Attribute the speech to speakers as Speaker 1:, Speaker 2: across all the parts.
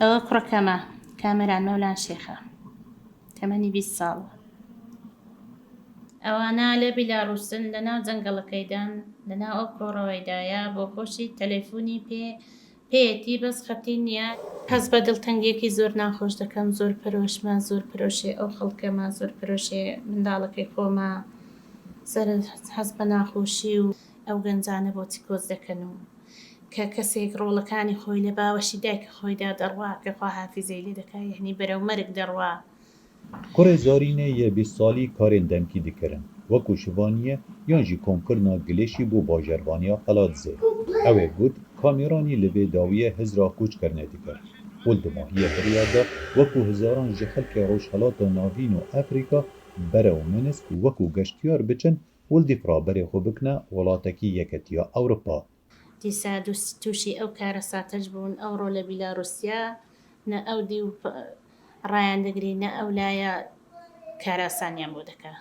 Speaker 1: ئەوە کوڕە کەمە کامەران مەولان شێخە تەمەنی بیست ساڵە. ئەوانە لە بیلاروسن لە ناو جەنگەڵەکەیدان لە ناو ئەو کۆڕەوەیدایە بۆ کۆشی تەلەیفونی پێ پێیەتی بەس خەتی نیە. هەست بە دڵتەنگیەکی زۆر ناخۆش دەکەم زۆر پەرۆشمە زۆر پەرۆشێ ئەو خەڵکەمە زۆر پەرۆشێ منداڵەکەی خۆمە سەر هەست بە ناخۆشی و. ئەو گەنجانە بۆچی کۆچ دەکەن و کە کەسێک ڕۆڵەکانی خۆی لە باوەشی دایکی خۆیدا دەڕوا کە خوا حافیزەی لێ دەکا یەعنی بەرەو مەرگ دەڕوا. کوڕێ
Speaker 2: زۆرینە یە بیست سالی کارێن دەنکی دکەرن وەکو شڤانیە یان ژی کۆم کرنا گلێشی بۆ باژەرڤانیا قەلادزێ ئەوێ گوت کامیرانی لڤێ داویە هزرا کۆچ کرنێ دکەر ول دوماهیە بریار دا وەکو هزاران ژی خەلکێ ڕۆژهەلاتا ناڤین و ئەفریکا بەرەو منسک وەکو گەشتیار بچن ولدی کوڕا بەرێ خۆ بکنە وڵاتەکی یەکەتیە ئەورپا. دیسا
Speaker 1: توشی ئەو کارەساتەش بوون ئەوڕۆ لە بیلاروسیا نە ئەو دیو ڕایان دەگری نە ئەو لایە کاراسانیان بۆ دەکا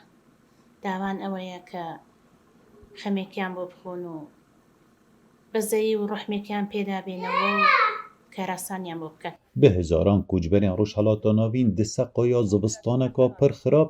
Speaker 1: داوان ئەوەیە کە خەمێکیان بۆ بخۆن و بەزەیی و ڕوحمێکیان پێدا بێنەوە و کاراسانیان بۆ بکەن. بە هەزاران
Speaker 2: کوچبەرێن ڕوژهەلاتا ناڤین دسە قایا زڤستانەکا پر خراپ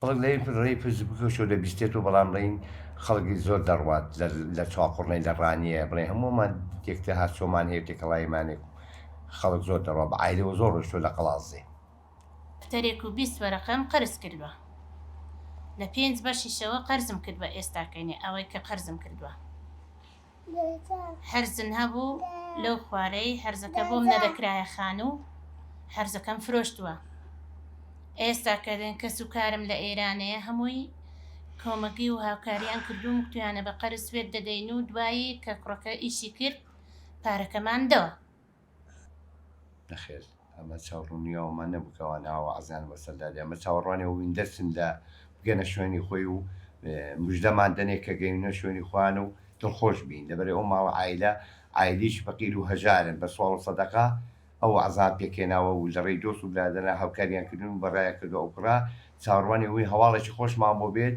Speaker 2: بەڵک لەی
Speaker 3: ڕێی فەیسبوکەوە شەو دەبیستێت و بەڵام ڕێی خەڵک زۆر دەڕوات لە لە چاقوڕنێ لە ڕانیە بڵێ هەموومان تێکتە هات چۆمان هەیە تێکەڵایمانێک خەڵک زۆر دەڕوا بە عایلەوە زۆر ڕۆشتوە لە قەڵازێ. دەفتەرێک
Speaker 1: و بیست وەرەقەم قەرز کردوە لە پێنج بەشیشەوە قەرزم کردوە ئێستا کەینێ ئەوەی کە قەرزم کردوە. هەرزن هەبوو لەو خوارەی هەرزەکە بۆم نەدەکرایە خانوو هەرزەکەم فرۆشتووە ئێستا کە کەس و کارم لە ئێرانەیە هەمووی کۆمەگی و هاوکاریان کردوم کتویانە بە قەرز سوێت دەدەین و دوایی کە کوڕەکە ئیشی کرد پارەکەمان دەوە نەخێر
Speaker 3: ئەمە چاوڕونیاومان نەبوو کە ئەوان ئاوا عەزیان بۆ سەردا دێ ئەمە چاوەڕوانی ئەوین دەرچن لە بگەنە شوێنی خۆی و مژدەمان دەنێ کە گەیونە شوێنی خۆیان و دڵخۆش بین لەبەرەی ئەو ماڵە عایلە عایلیش فەقیر و هەژارن بە سواڵ و سەدەقە ئەو عەزان پێکهێناوە و لەڕێی دۆست و برادەران هاوکاریان کردوون و بەڕایان کردووە ئەو کوڕە چاوەڕوانی ئەوین هەواڵێکی خۆشمان بۆ بێت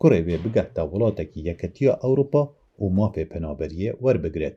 Speaker 2: کوڕێ وێ بگاتە وڵاتەکی یەکەتیە ئەوڕوپا و مافێ پەنابەریێ وەربگرێت.